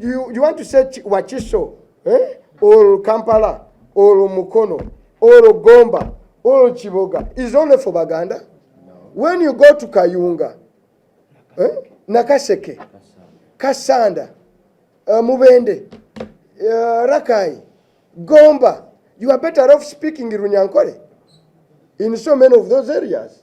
You, you want to say Wakiso eh? or Kampala or Mukono or Gomba or Chiboga is only for Baganda? No. When you go to Kayunga, Nakaseke, eh? Nakaseke Kasanda, uh, Mubende, uh, Rakai, Gomba, you are better off speaking Runyankore in so many of those areas.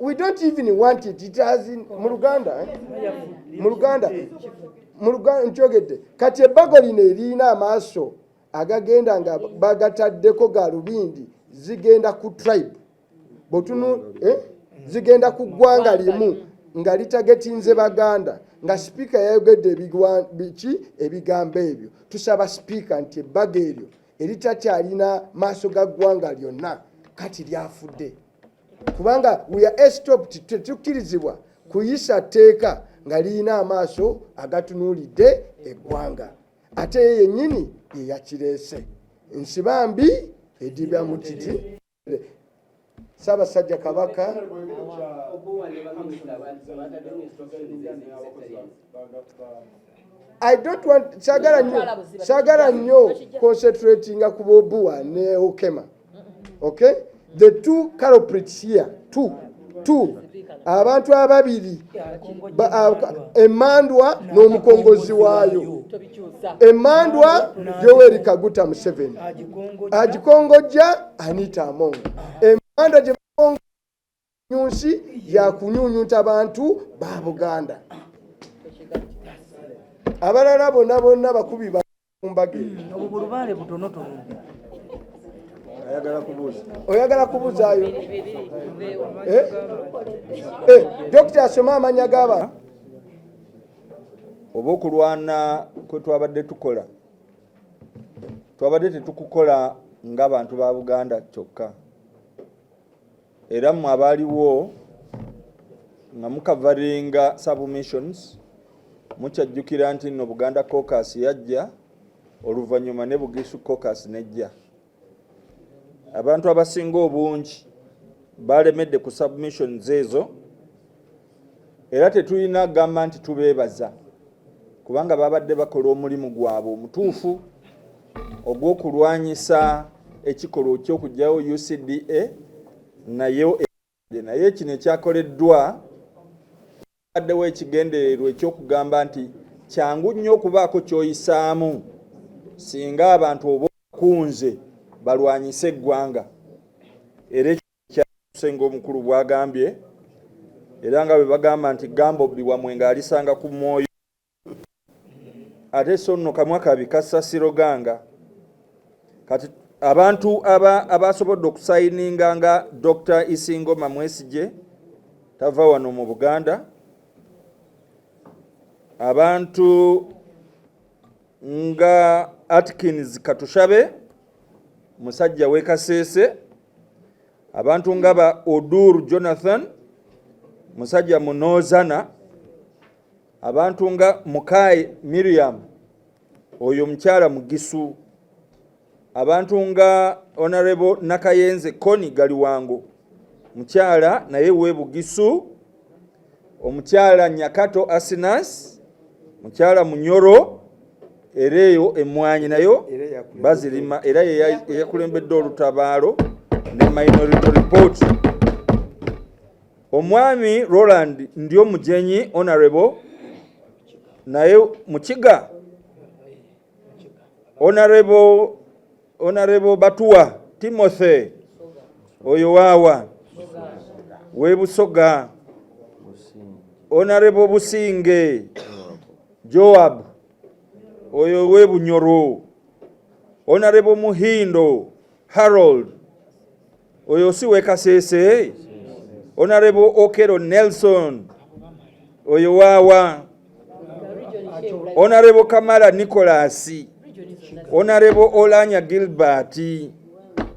we don't even want it it has in mu luganda eh? mu luganda mu luganda nkyogedde kati ebbago lino erina amaaso agagenda nga bagataddeko galubindi zigenda ku tribe botunu eh? zigenda ku ggwanga limu nga litagetinze baganda nga sipiika yayogedde biki ebigambo ebyo tusaba sipiika nti ebbago eryo eritakyalina maaso ga ggwanga lyonna kati lyafudde kubanga we are estopped tetukirizibwa kuyisa tteeka nga lirina amaaso agatunuulidde eggwanga ate ye yennyini ye yakireese nsiba mbi edibya mu kiti ssaabasajja kabaka I don't want sagala nyo sagala nyo concentrating ku Bobua ne Okema. Okay? The two culprits here, two, two. Abantu ababiri emandwa n'omukongozi waayo emandwa Yoweri Kaguta Museveni agikongojja Anita Among emandwa gye nyunsi yakunyunyunta bantu ba buganda abalala bonna bonna bakubi bakumbaga oyagala kubuzayo eh? eh, dokita asoma amanya gaba oba okulwana kwetwabadde tukola twabadde tetukukola ngabantu ba buganda kyokka era mmwe abaaliwo nga mukavaringa submissions mukyajjukira nti nno buganda cocas yajja oluvannyuma ne bugisu cocas nejja abantu abasinga obungi balemedde ku submissions ezo era tetulina kugamba nti tubeebaza kubanga babadde bakola omulimu gwabwe omutuufu ogw'okulwanyisa ekikolwa ky'okugyawo UCDA naye naye kino ekyakoleddwa addewo ekigendererwa eky'okugamba nti kyangu nnyo okubaako ky'oyisaamu singa abantu oba okunze balwanyise eggwanga era Ssenga omukulu bwagambye era nga bwebagamba nti gamba obbi wamwe nga alisanga ku mwoyo ate so nno kamwa kabi kassa siroganga kati abantu abasobodde aba okusayininga nga dr isingoma mwesigye tava wano mu buganda abantu nga atkins katushabe musajja w'e Kasese, abantu nga ba Odur Jonathan, musajja Munozana, abantu nga Mukai Miriam, oyo mukyala Mugisu, abantu nga Honorable Nakayenze Koni Galiwango, mukyala naye w'e Bugisu. omukyala Nyakato Asinas, mukyala Munyoro era eyo emmwanyi nayo bazirima era yeyakulembedde olutabaalo ne Minority Report. Omwami Roland ndi omujenyi honorable naye mukiga Honorable Honorable Batuwa Timothy oyo waawa we Busoga Honorable Businge Joab oyo we Bunyoro Honorable Muhindo Harold oyo si wekasese honorable okero nelson oyo waawa honorable kamara nicolas honorable olanya gilbert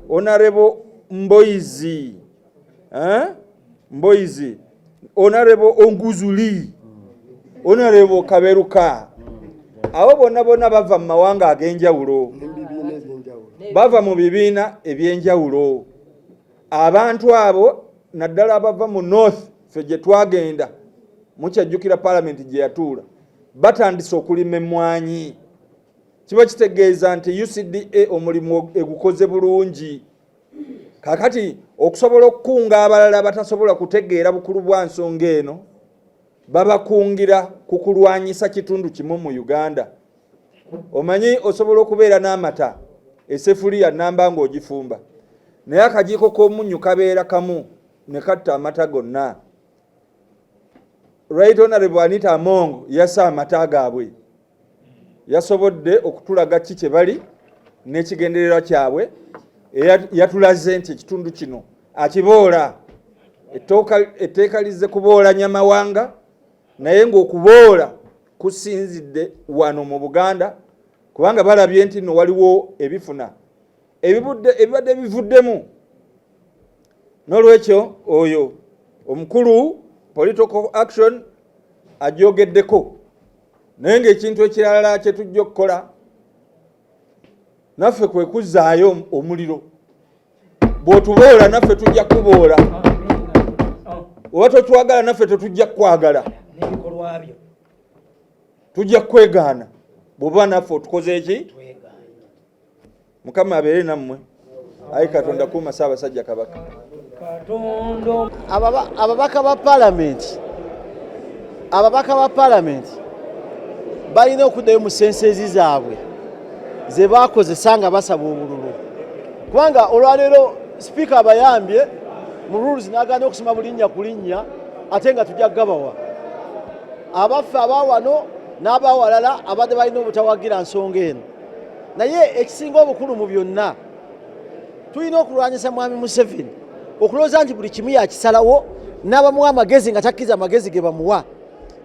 honorable mboizi eh? mboizi onarebo onguzuli onarebo kaberuka abo bonna bonna bava mu mawanga ag'enjawulo bava mu bibiina eby'enjawulo abantu abo naddala abava mu north fe gye twagenda mukyajjukira palamenti gye yatuula batandise okulima emmwanyi kiba kitegeeza nti ucda omulimu egukoze bulungi kakati okusobola okukunga abalala batasobola kutegeera bukulu bwa nsonga eno babakungira ku kulwanyisa kitundu kimu mu uganda omanyi osobola okubeera n'amata esefuliya namba ng'ogifumba naye akajiiko k'omunnyu kabeera kamu ne katta amata gonna right honorable anita amongo yasa amata gaabwe yasobodde okutulaga ki kye bali n'ekigendererwa kyabwe yatulaze nti ekitundu kino akiboola etteeka lizze kuboola nyamawanga naye ng'okuboola kusinzidde wano mu buganda kubanga balabye nti no waliwo ebifuna ebibadde bivuddemu n'olwekyo oyo omukulu political action ajogeddeko naye ng'ekintu ekirala kye tujja okukola naffe kwe kuzzaayo omuliro bw'otuboola naffe tujja kuboola oba totwagala naffe tetujja kukwagala tujja kukwegaana bw'oba naffe otukoze eki mukama abeere nammwe ayi katonda kuuma saabasajja kabaka ababaka ba palamenti ababaka ba palamenti balina okuddayo mu sensezi zaabwe ze bakozesa nga basaba obululu kubanga olwaleero sipiika abayambye mu rules nagana okusoma bulinnya ku linnya ate nga tujja kugabawa abaffe abawano n'abawalala abadde balina obutawagira nsonga eno naye ekisinga obukulu mu byonna tulina okulwanyisa mwami museveni okulowooza nti buli kimu yakisalawo n'abamuwa amagezi nga takkiriza amagezi ge bamuwa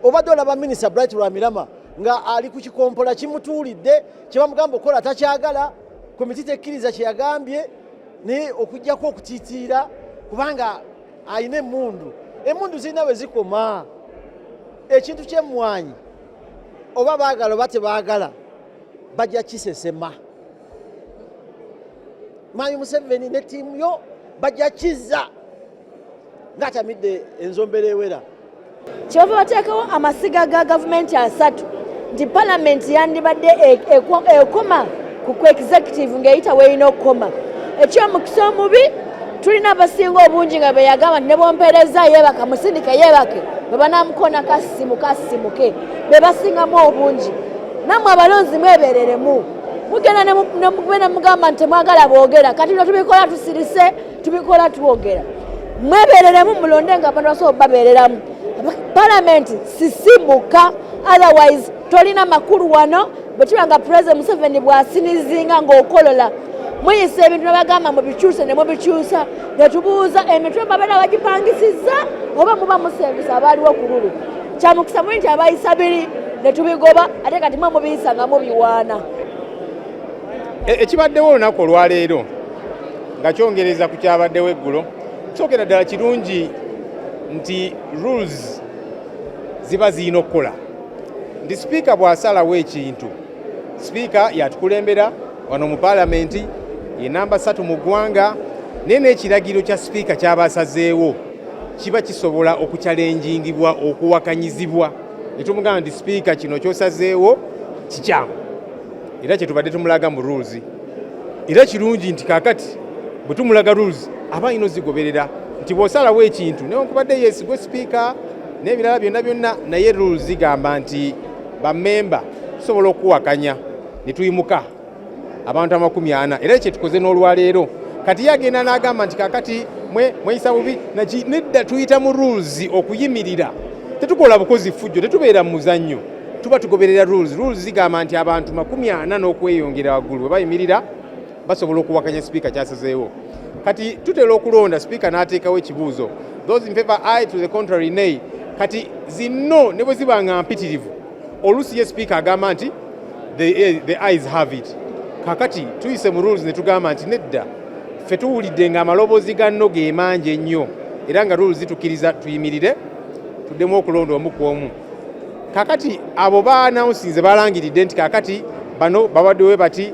obadde olaba minisita bright lwamirama nga ali ku kikompola kimutuulidde kyebamugamba okukola takyagala komiti tekkiriza kyeyagambye naye okugjako okutitiira kubanga alina emundu emundu zirina we zikoma ekintu kyemmwanyi oba baagala oba tebaagala bajja kisesema mayi museveni ne tiimu yo bajja kizza ng'atamidde enzombera ewera kyova bateekawo amasiga ga gavumenti asatu nti palamenti yandibadde e-, e-, ekoma ku executive ng'eyita weerina okukoma ekyomukisa omubi tulina abasinga obungi nga beyagamba nti nebwompereza yebaka musindike yebake bwebanamukona kasimu kasimu ke bebasingamu obungi namwe abalonzi mwebereremu mugenda nemugenda mugamba nti temwagala bwogera kati no tubikola tusirise tubikola twogera mwebereremu mulonde nga abantu basobola babereramu palamenti sisimuka otherwise tolina makulu wano bwe kiba nga pulezidenti museveni bw'asinizinga ng'okolola muyisa ebintu nabagamba mubikyuse ne mubikyusa ne tubuuza emitwe babeera bagipangisizza oba muba musembisa abaaliwo ku lulu kya mukisa muli nti abayisa biri ne tubigoba ate kati mwe mubiyisa nga mubiwaana e, ekibaddewo olunaku olwaleero nga kyongereza ku kyabaddewo eggulo kyogera ddala kirungi nti rules ziba zirina okukola ndi sipiika bw'asalawo ekintu sipiika yatukulembera wano mu paalamenti ye namba ssatu mu ggwanga naye n'ekiragiro kya sipiika kyaba asazeewo kiba kisobola okukyalenjingibwa okuwakanyizibwa ne tumugamba nti sipiika kino kyosazeewo kikyamu era kyetubadde tumulaga mu rules era kirungi nti kakati bwe tumulaga rules aba alina ozigoberera nti bw'osalawo ekintu newankubadde yesigwe sipiika n'ebirala byonna byonna naye rule zigamba nti bamemba tusobola okuwakanya ne tuyimuka abantu amakumi ana era ekyo tukoze n'olwaleero kati ye agenda n'agamba nti kakati mweyisa bubi naki nedda tuyita mu rules okuyimirira tetukola bukozi ffujjo tetubeera mu muzannyo tuba tugoberera rules rules zigamba nti abantu makumi ana n'okweyongera waggulu bwe bayimirira basobola okuwakanya sipiika kyasazeewo kati tutera okulonda sipiika n'ateekawo ekibuuzo those in favor i to the contrary nay kati zinno ne bwe ziba nga mpitirivu oluusi ye sipiika agamba nti the, eh, the eyes have it kakati tuyise mu rules ne tugamba nti nedda ffe tuwulidde nga amaloboozi ganno ge mangi ennyo era nga rules zitukkiriza tuyimirire tuddemu okulonda omu ku omu kakati abo baanawunsinze balangiridde nti kakati bano babaddewe bati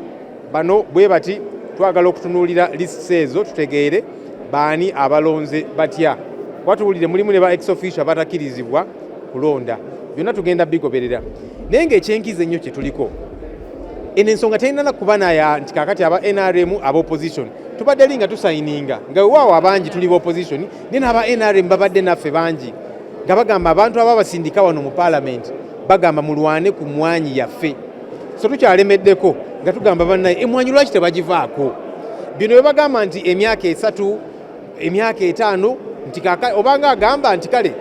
Bano bwe bati twagala okutunuulira lists ezo tutegeere baani abalonze batya kuba tuwulire mulimu ne ba ex official abatakirizibwa kulonda byonna tugenda bigoberera naye ngaekyenkiza ennyo kyetuliko eno ensonga telinana kuba naya nti kakati aba nrm aba opposition tubadde li nga tusayininga nga wewaawo abangi tuli ba opposition naye naaba nrm babadde naffe bangi nga bagamba abantu aba basindika wano mu palamenti bagamba mulwane ku mwanyi yaffe so tukyalemeddeko nga tugamba bannaye emwanyi lwaki tebagivaako bino bebagamba nti emyaka esatu emyaka etaano nti obanga agamba nti kale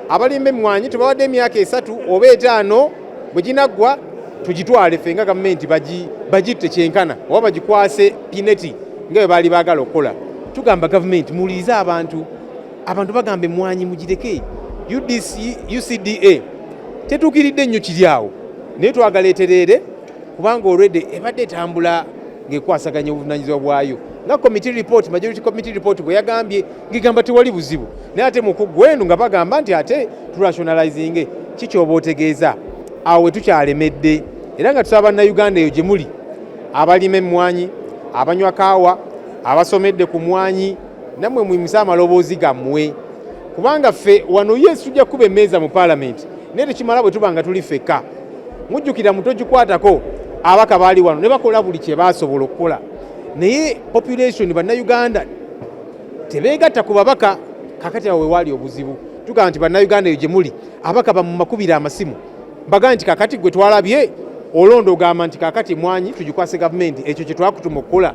abalimba emmwanyi tubawadde emyaka esatu oba etaano bwe ginaggwa tugitwale ffe nga gavumenti bagitte kyenkana oba bagikwase pineti nga bwe baali baagala okukola tugamba gavumenti muwulirize abantu abantu bagamba emwanyi mugireke ucda tetuukiridde nnyo kiri awo naye twagala etereere kubanga olwedde ebadde etambula ng'ekwasaganya obuvunanyizibwa bwayo nga committee report majority committee report bwe yagambye ngigamba tewali buzibu naye ate mukugwenu nga bagamba nti ate turationalizinge kikyoba otegeeza awo wetukyalemedde era nga tusaba bannayuganda eyo gye muli abalima emmwanyi abanywa kaawa abasomedde ku mwanyi namwe muyimusa amaloboozi gammwe kubanga ffe wano ye tujja kukuba emmeeza mu paalamenti naye tekimala bwe tuba nga tuli ffekka mujjukira mutogikwatako abaka baali wano ne bakola buli kye baasobola okukola naye population bannayuganda tebeegatta ku babaka kakati awo wewaali obuzibu tugamba nti bannayuganda eyo gye muli abaka bamumakubira amasimu mbagambe nti kakati gwe twalabye olonda ogamba nti kakati emwanyi tugikwase gavumenti ekyo kye twakutuma okukola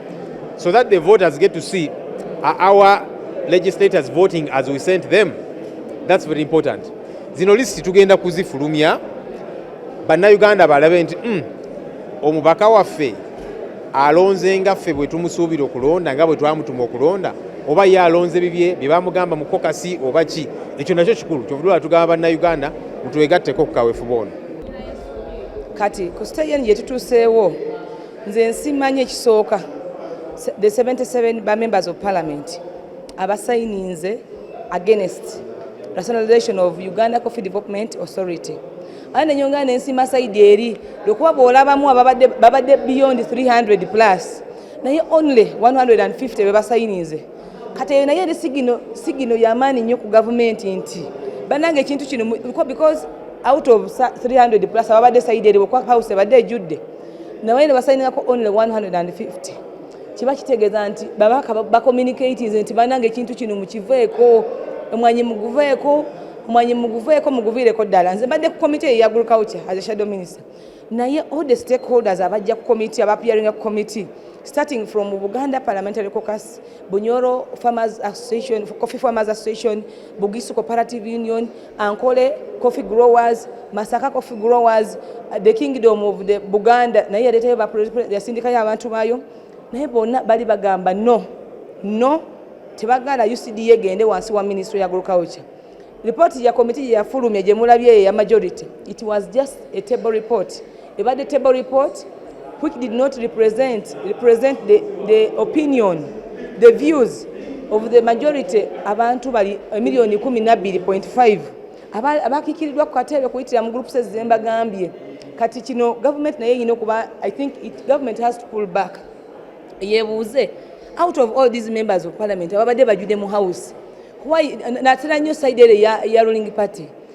so that the voters get to see uh, our legislators voting as we sent them that's very important zino lisiti tugenda kuzifulumya bannayuganda balabe nti mm, omubaka waffe alonze nga ffe bwe tumusuubira okulonda nga bwe twamutuma okulonda oba ye alonze bibye bye bamugamba mu kokasi oba ki ekyo nakyo kikulu kyovudula tugamba bannayuganda mutwegatteko ku kaweefube ono kati ku siteegi eno gye tutuuseewo nze nsimanyi ekisooka the 77 ba members of parliament abasayininze against rationalization of uganda coffee development authority aa nenyongera nensima saidi eri lwekuba bwolabamu babadde beyond 300 plus naye only 150 bebasayininze kati eyo naye eri sigino yamaanyi nnyo ku gavumenti nti banange ekintu kino because out of 300 plus ababadde saidi eri house ebadde ejjudde nabaye nebasainirako only 150 kiba kitegeeza nti babaka bacommunicatis nti bananga ekintu kino mukiveeko omwanyi muguveeko omwanyi muguveeko muguviireko ddala nze mbadde ku komite eyo ya agriculture as a shadow minister naye all the stakeholders abajja ku committee abapiaringa ku committee starting from buganda parliamentary cocus bunyoro farmers association coffee farmers association bugisu cooperative union Ankole coffee growers, Masaka coffee growers, uh, the kingdom of the Buganda naye yaleetayo yasindikayo abantu baayo naye bonna bali bagamba no no tebagala UCDA egende wansi wa ministry ya agriculture. Report ya committee yafulumye gye mulabye ya majority. It was just a table report. ebadde table report which did not represent, represent the, the opinion, the views of the majority abantu bali emiliyoni eh, kumi nabbiri point five abakikiridwa ku kateebe kuyitira mu groups ezemba gambye kati kino government naye yino kuba i think it, government has to pull back yebuuze out of all these members of parliament ababadde bajude mu house why natera nnyo side ere ya, ya ruling party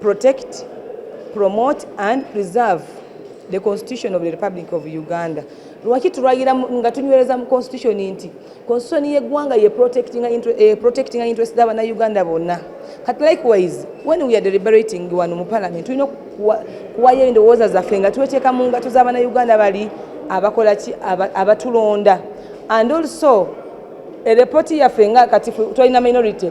protect promote and preserve the constitution of the republic of uganda lwaki tulwayira nga tunywereza mu constitution nti constitution yeggwanga ye protecting eh, interest za banauganda bonna kati likewise when we are deliberating wano mu parliament tulina kuwayo endowooza zaffe nga tweteeka mu ngato za banauganda bali abakola ki abatulonda and also erepooti yaffe nga kati twalina minority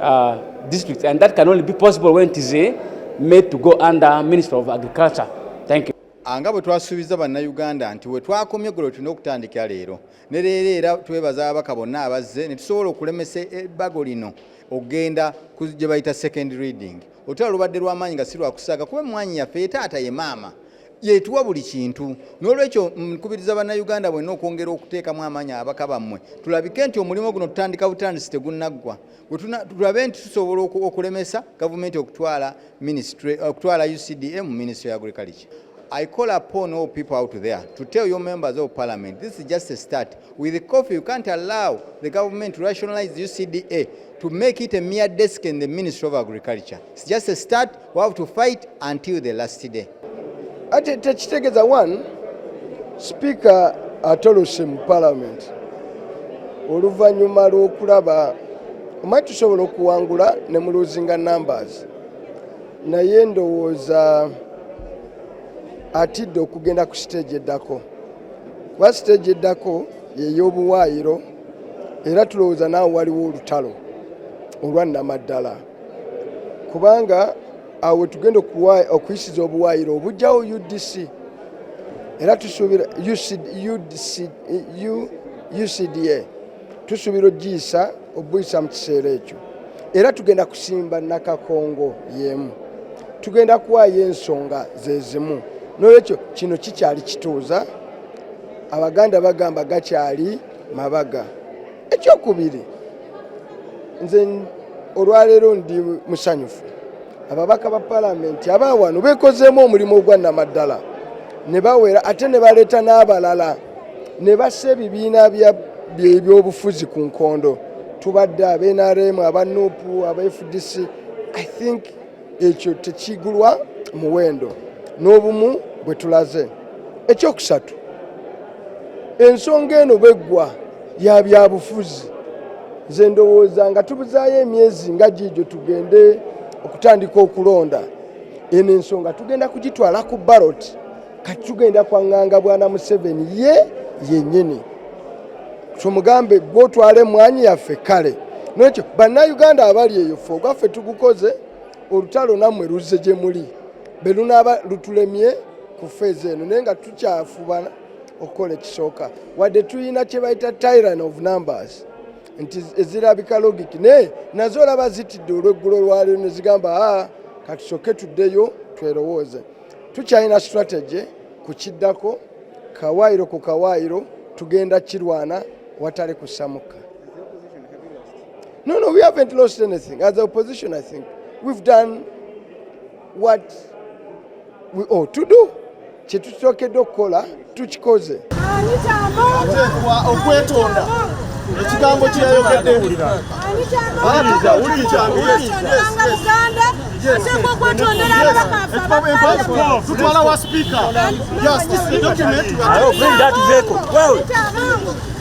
uh, district and that can only be possible when it is uh, made to go under minister of agriculture thank you anga bwe twasuubiza bannayuganda nti we twakomye eggulo tulina okutandikira leero ne leero era twebaza ababaka bonna abazze ne tusobola okulemesa ebbago lino okugenda gye bayita second reading otula lubadde lw'amaanyi nga si lwakusaaga kuba emmwanyi yaffe ye taata ye maama yetuwa buli kintu n'olwekyo nkubiriza bannayuganda bwenna okwongera okuteekamu amaanyi ababaka bammwe tulabike nti omulimu guno tutandika butandisi tegunnaggwa tulabe nti tusobola okulemesa gavumenti okutwala ministry okutwala ucda mu ministry ya agriculture I call upon all people out there to tell your members of parliament this is just a start. With the coffee, you can't allow the government to rationalize UCDA to make it a mere desk in the Ministry of Agriculture. It's just a start. We have to fight until the last day. Ate tekitegeza one speaker atolose mu parliament oluvannyuma lw'okulaba omanyi tusobola okuwangula ne mu losing numbers naye ndowooza atidde okugenda ku siteegi eddako kuba siteegi eddako yeyobuwaayiro era tulowooza naawe waliwo olutalo olwannamaddala kubanga awo wetugenda okuyisiza obuwaayiro obujjawo udc era tusuubira ucda tusuubira ogiyisa obuyisa mu kiseera ekyo era tugenda kusimba nakakongo yemu tugenda kuwaayo ensonga zezimu nolwekyo kino kikyali kituuza abaganda bagamba gakyali mabaga ekyokubiri nze olwaleero ndi musanyufu ababaka ba palamenti abaawano bekozeemu omulimu ogwannamaddala ne bawera ate ne baleeta n'abalala ne bassa ebibiina byebyobufuzi ku nkondo tubadde abenaremu abanupu aba fdc i think ekyo tekigulwa muwendo n'obumu bwe tulaze ekyokusatu ensonga eno bweggwa ya byabufuzi nze ndowooza nga tubuzaayo emyezi nga giigyo tugende okutandika okulonda eno ensonga tugenda kugitwala ku baroti kati tugenda kwanganga bwana museveni ye yenyini kyomugambe gwotwala emwanyi yaffe kale nekyo bannayuganda abali eyo fe ogwaffe tugukoze olutalo nammwe luzze gye muli be lunaaba lutulemye ku feeza eno naye nga tukyafubana okukola ekisooka wadde tulina kye bayita tyran of numbers nti ezirabika logiki naye nazo olaba zitidde olweggulo lwaliro ne zigamba a ah, katusoke tuddeyo twerowooze tukyalina strategy ku kiddako kawaayiro ku kawaayiro tugenda kirwana watali kusamuka no no we haven't lost anything as opposition i think we've done what we ought to do kyetusokedde okukola tukikoze oteekwa okwetonda ekigambo kyeyayogedde wuliriza wuliriza tutwala wa sipiika yes this is the document we are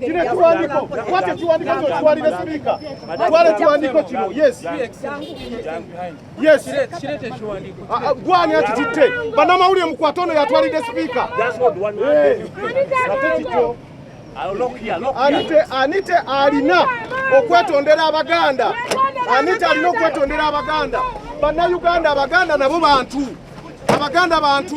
kino ekiwandiiko kwati ekiwandiiko kino kiwalire sipiika twala ekiwandiiko kino yes yes ah, ah, gwani akititte bannamawulire mukwata ono yatwalidde sipiika ate kikyo anite anite alina okwetondera abaganda anite alina okwetondera abaganda bannayuganda abaganda nabo bantu abaganda bantu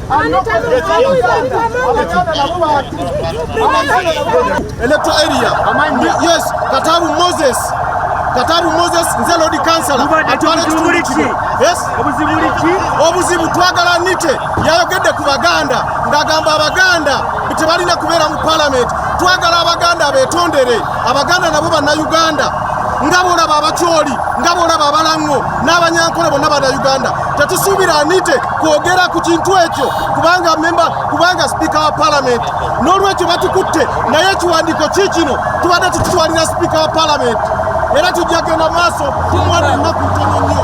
Electoral area. Yes, Kataru Moses. Kataru Moses nze Lord Councilor. Yes. Obuzibu twagala nite yayogedde ku Baganda ng'agamba Abaganda tebalina kubeera mu parliament. Twagala Abaganda betondere. Abaganda nabo bannayuganda nga bolaba abakyoli nga bolaba abalaŋŋo n'abanyankole bonna bannayuganda tetusuubira anite kwogera ku kintu ekyo kubanga memba kubanga sipiika wa palamenti n'olwekyo batukutte naye ekiwandiiko ki kino tubadde tukitwalira sipiika wa palamenti era tujja genda maaso kumwana ennaku ntono nnyo